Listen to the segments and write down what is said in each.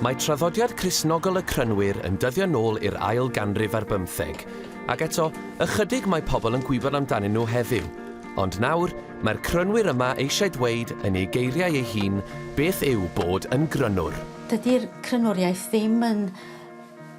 Mae traddodiad Cristnogol y Crynwyr yn dyddio nôl i'r ail ganrif ar bymtheg, ac eto, ychydig mae pobl yn gwybod amdanyn nhw heddiw. Ond nawr, mae'r Crynwyr yma eisiau dweud, yn ei geiriau ei hun, beth yw bod yn Grynwr. Dydy'r Crynwriaeth ddim yn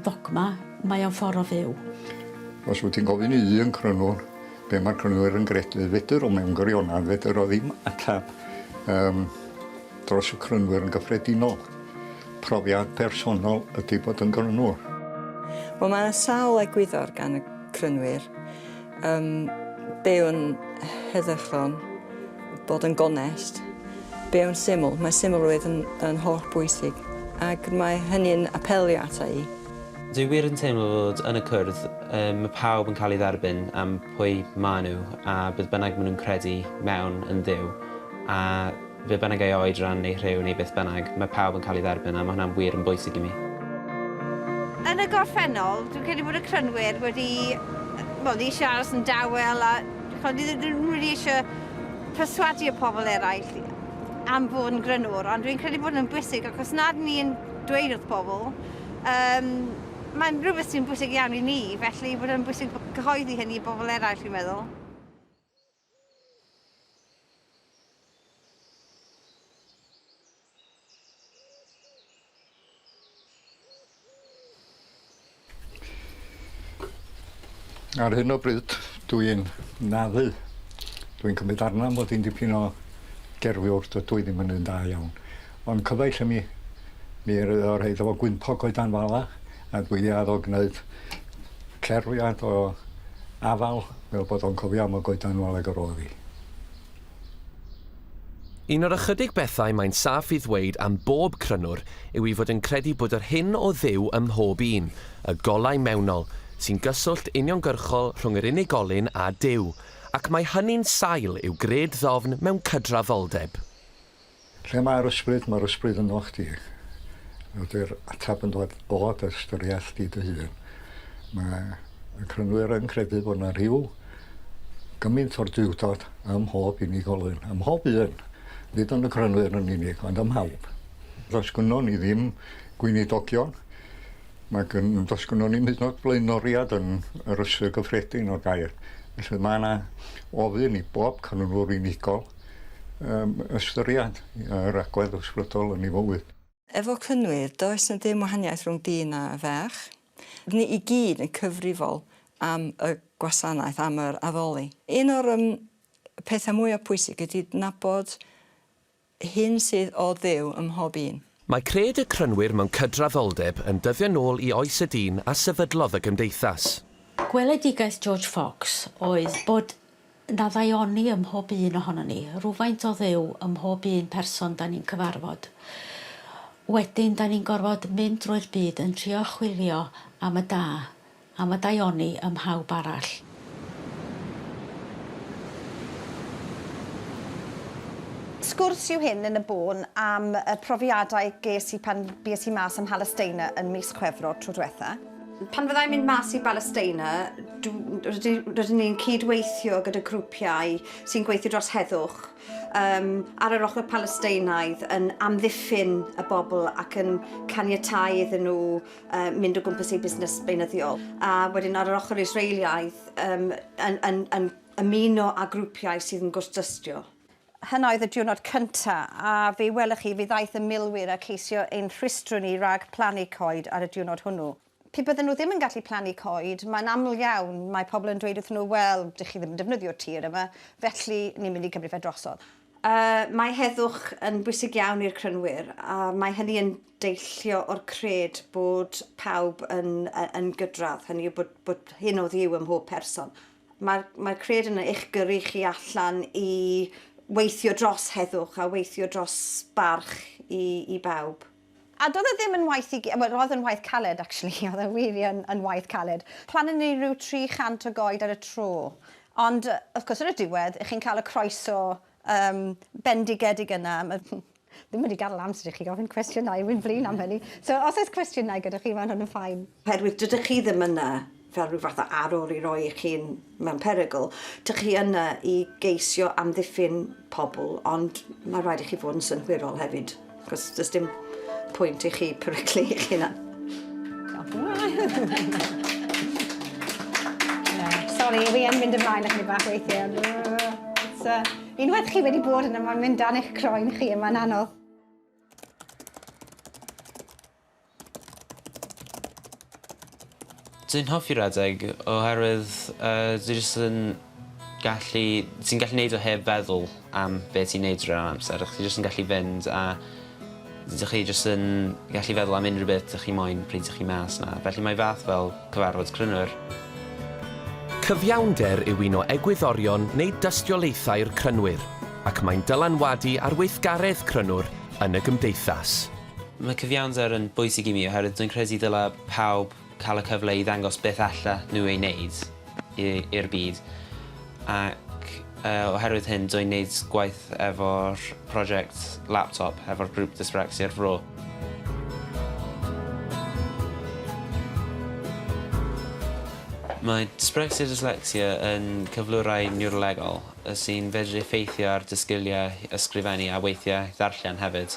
ddogma, mae o'n ffordd o fyw. Os wyt ti'n gofyn i un crynwr be' mae'r crynwyr yn gredu, fedr o mewn gwirionedd, fedr o ddim ateb um, dros y crynwyr yn gyffredinol. Profiad personol ydy bod yn grynwr. Wel mae yna sawl egwyddor gan y crynwyr. Yym, be yw'n heddychlon? Bod yn gonest. Be yw'n syml? Mae symlrwydd yn, yn holl bwysig, ac mae hynny'n apelio ata i. Dwi wir yn teimlo fod yn y cwrdd, yy, mae pawb yn cael ei dderbyn am pwy maen nhw a beth bynnag maen nhw'n credu mewn yn Dduw, a Beth bynnag ei oed, ran neu rhyw neu beth bynnag, mae pawb yn cael ei dderbyn a mae hwnna'n wir yn bwysig i mi. Yn y gorffennol, dwi'n credu bod y crynwyr wedi, wel, wedi eisiau aros yn dawel a chimod, dydyn nhw ddim rili eisiau perswadu y pobl eraill am fod yn grynwr, ond dwi'n credu bod yn bwysig ac os nad ni'n dweud wrth bobl, um, mae'n rhywbeth sy'n bwysig iawn i ni, felly bod yn bwysig cyhoeddi hynny i bobl eraill, fi'n meddwl. Ar hyn o bryd, dwi'n naddu. Dwi'n cymryd arna mod i'n dipyn o gerfiwr, dydw i ddim yn un da iawn. Ond cyfaill ym mi. Mi roedd o rhaid efo gwympo coedan fala a dwi di addo gneud cerfiad o afal fel bod o'n cofio am y goedan fala ag yr oedd i. Un o'r ychydig bethau mae'n saff i ddweud am bob crynwr yw i fod yn credu bod yr hyn o Dduw ym mhob un, y golau mewnol, sy'n gyswllt uniongyrchol rhwng yr unigolyn a Duw, ac mae hynny'n sail i'w gred ddofn mewn cydrafoldeb. Lle mae'r ysbryd? Mae'r ysbryd ynoch chdi. Ydy'r ateb yn dod o dy ystyriaeth di dy hun. Mae y crynwyr yn credu bod yna rhyw gymaint o'r duwdod ym mhob unigolyn, ym mhob un, nid yn y crynwyr yn unig, ond ym mhawb. Does gynnon ni ddim gweinidogion, mae gyn, does gynnon ni'm hyd yn oed blaenoriad yn yr ystyr gyffredin o'r gair. Felly mae yna ofyn i bob crynwr unigol um, ystyried yr agwedd ysbrydol yn ei fywyd. Efo Cynwyr, does na ddim wahaniaeth rhwng dyn a ferch. Rydyn ni i gyd yn cyfrifol am y gwasanaeth, am yr addoli. Un o'r um, pethau mwyaf pwysig ydy nabod hyn sydd o ddew ym mhob un. Mae cred y Crynwyr mewn cydraddoldeb yn dyddio nôl i oes y dyn a sefydlodd y gymdeithas. Gweledigaeth George Fox oedd bod Na ddaioni ym mhob un ohonon ni. Rhywfaint o Dduw ym mhob un person 'da ni'n cyfarfod. Wedyn 'da ni'n gorfod mynd drwy'r byd yn trio chwilio am y da, am y daioni ym mhawb arall. Sgwrs yw hyn yn y bôn am y profiadau ges i pan bues i mas ym Mhalesteina yn mis Chwefror tro dwetha. Pan fydda i'n mynd mas i Balesteina, rydyn ni'n cyd-weithio gyda grwpiau sy'n gweithio dros heddwch um, ar yr ochr Palesteinaidd yn amddiffyn y bobl ac yn caniatau iddyn nhw uh, mynd o gwmpas eu busnes beunyddiol. A wedyn ar yr ochr Israeliaidd um, yn, yn, yn ymuno â grwpiau sydd yn gwrthdystio. Hyn oedd y diwrnod cynta, a fe welwch chi, fe ddaeth y milwyr a ceisio ein rhwystro ni rag plannu coed ar y diwrnod hwnnw. Pe bydden nhw ddim yn gallu plannu coed, mae'n aml iawn, mae pobl yn dweud wrthyn nhw, wel, dych chi ddim yn defnyddio'r tir yma, felly ni'n mynd i gymryd fe drosodd. Mae heddwch yn bwysig iawn i'r Crynwyr, a mae hynny yn deillio o'r cred bod pawb yn gydradd, hynny yw bod hyn oddi-u ym mhob person. Mae'r mae cred yn eich gyrru chi allan i weithio dros heddwch a weithio dros barch i, i bawb. A doedd e ddim yn waith i... wel, roedd yn waith caled, actually, oedd e wir yn, yn waith caled. Plannu ni ryw 300 o goed ar y tro. Ond, wrth gwrs, ar y diwedd, chi'n cael y croeso um, bendigedig yna. Ddim wedi gadel amser i chi ofyn cwestiynau, wi'n flin am hynny. So os oes cwestiynau gyda chi, mae hwn yn ffain. Oherwydd dydych chi ddim yna fel rhyw fath o arwr i roi eich hun mewn perygl, dych chi yna i geisio amddiffyn pobl, ond mae rhaid i chi fod yn synhwyrol hefyd, achos does dim pwynt i chi peryglu eich hunan. Sori, wi yn mynd ymlaen ychydig bach weithiau. Unwaith chi wedi bod yna, mae'n mynd dan eich croen chi, mae'n anodd. Dwi'n hoffi redeg oherwydd uh, dwi jyst yn gallu... Ti'n gallu neud o heb feddwl am be ti'n neud rhan amser. Chdi jyst yn gallu fynd a Dych chi jyst yn gallu feddwl am unrhyw beth dych chi moyn pryd dych chi mas 'na, felly mae fath fel cyfarfod crynwyr. Cyfiawnder yw un o egwyddorion neu dystiolaethau'r crynwyr, ac mae'n dylanwadu ar weithgaredd crynwr yn y gymdeithas. Mae cyfiawnder yn bwysig i mi oherwydd dwi'n credu dylai pawb cael y cyfle i ddangos beth allan nhw ei wneud i'r byd ac oherwydd hyn dw i'n gwneud gwaith efo'r prosiect laptop hefo'r grŵp Dyspraxia'r Fro. Mae Dyspraxia Dyslexia yn cyflwrau niwrolegol sy'n fedru effeithio ar dy sgiliau ysgrifennu a weithiau ddarllen hefyd.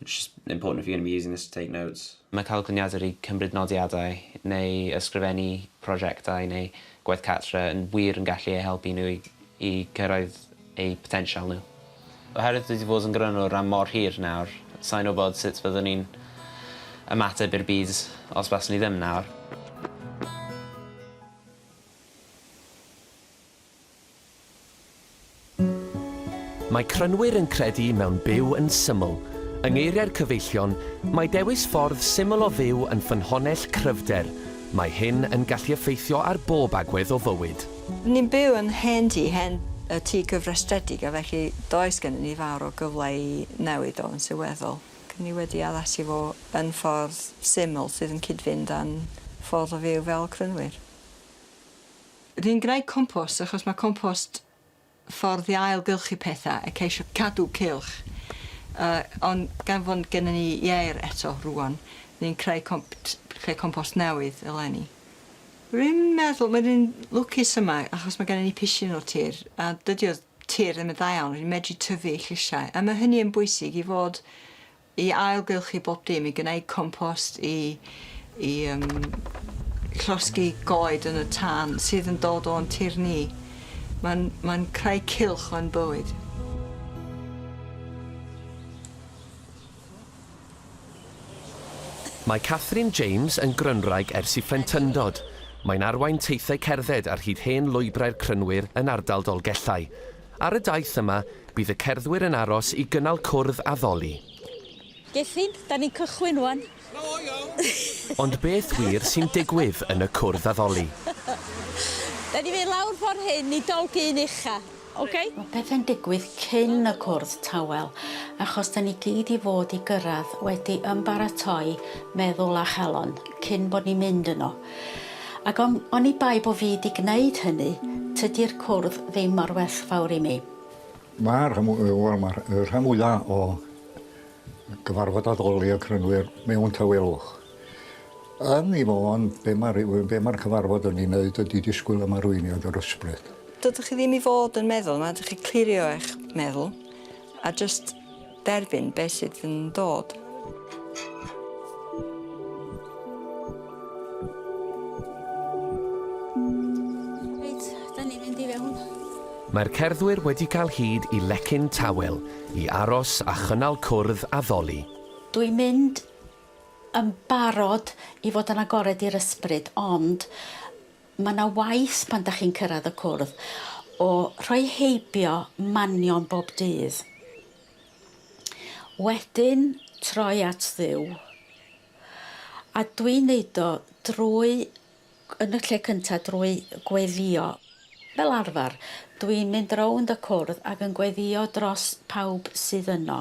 It's just important if you're going to be using this to take notes. Mae cael coniadur i cymryd nodiadau neu ysgrifennu prosiectau neu gwaith cartre yn wir yn gallu eu helpu nhw i gyrraedd eu potensial nhw. Oherwydd dwi 'di bod yn grynwr am mor hir nawr, sa i'n wybod sut fyddwn i'n ymateb i'r byd os baswn i ddim nawr. Mae Crynwyr yn credu mewn byw yn syml. Yng ngeiriau'r cyfeillion, mae dewis ffordd syml o fyw yn ffynhonnell cryfder. Mae hyn yn gallu effeithio ar bob agwedd o fywyd. Ni'n byw yn hen dŷ, hen tŷ gyfrestredig a felly does gennym ni fawr o gyfle i newid o yn sylweddol. Dyn ni wedi addasu fo yn ffordd syml sydd yn cyd-fynd â'n ffordd o fyw fel Crynwyr. Dwi'n gwneud compost achos mae compost ffordd i ail-gylchu pethau a ceisio cadw cylch. Yy ond gan fod n- gennyn ni ieir eto rŵan, ni'n creu com- t- creu compost newydd eleni. Rwy'n meddwl mae rwy'n lwcus yma achos mae gennyn ni pishyn o tir a dydy o tir ddim yn dda iawn, rwy'n medru tyfu llysiau a mae hynny yn bwysig i fod I ailgylchu bob dim, i gwneud compost, i i yym llosgi goed yn y tân sydd yn dod o'n tir ni. Mae'n mae'n creu cylch o'n bywyd. Mae Catherine James yn Grynwraig ers i phlentyndod. Mae'n arwain teithiau cerdded ar hyd hen lwybrau'r Crynwyr yn ardal Dolgellau. Ar y daith yma, bydd y cerddwyr yn aros i gynnal cwrdd a tholi. Gethin, da ni'n cychwyn ŵan. Ond beth wir sy'n digwydd yn y cwrdd addoli? Da ni'n mynd lawr ffordd hyn i Dolgyn Ucha, ok? Mae pethe'n digwydd cyn y cwrdd tawel, achos da ni gyd i fod i gyrraedd wedi ymbaratoi meddwl a chalon cyn bod ni'n mynd yno. Ac on- oni bai bo fi 'di gneud hynny, tydi'r cwrdd ddim mor werthfawr i mi. Mae'r rhan fw- yy wel ma'r yy rhan fwya o gyfarfod addoli y crynwyr mewn tawelwch. Yn 'i fo'n be' ma' ryw yy be' ma'r cyfarfod yn 'i neud ydi disgwyl am arweiniad yr ysbryd. Dydych chi ddim i fod yn meddwl 'na, dych chi clirio eich meddwl a jyst Derbyn beth sydd yn dod. Reit, da ni'n mynd i fewn. Mae'r cerddwyr wedi cael hyd i lecyn tawel i aros a chynnal cwrdd a ddoli. Dwi'n mynd yn barod i fod yn agored i'r ysbryd, ond Mae yna waith pan dach chi'n cyrraedd y cwrdd o rhoi heibio manion bob dydd. Wedyn troi at Dduw. A dwi'n neud o drwy, yn y lle cynta, drwy gweddïo. Fel arfer, dwi'n mynd rownd y cwrdd ac yn gweddïo dros pawb sydd yno.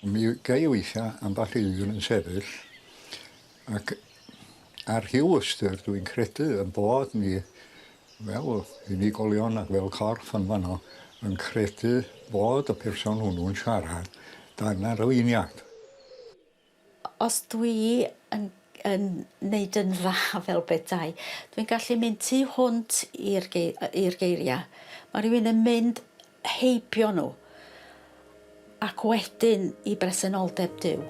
Mi ga' i weithia' ambell un yn sefyll Ac ar Hugh Ystyr dwi'n credu ein bod ni fel unigolion ac fel corff yn fanno yn credu bod y person hwnnw'n siarad dan arweiniad. Os dwi yn yn neud yn dda fel petai dwi'n gallu mynd tu hwnt i'r gei- yy i'r geiria. Ma' rywun yn mynd heibio nhw, ac wedyn i bresenoldeb Duw.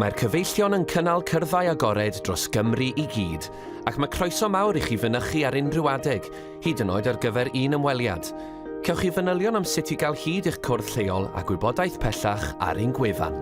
Mae'r cyfeillion yn cynnal cyrddau agored dros Gymru i gyd, ac mae croeso mawr i chi fynychu ar unrhyw adeg, hyd yn oed ar gyfer un ymweliad. Cewch chi fanylion am sut i gael hyd i'ch cwrdd lleol a gwybodaeth pellach ar ein gwefan.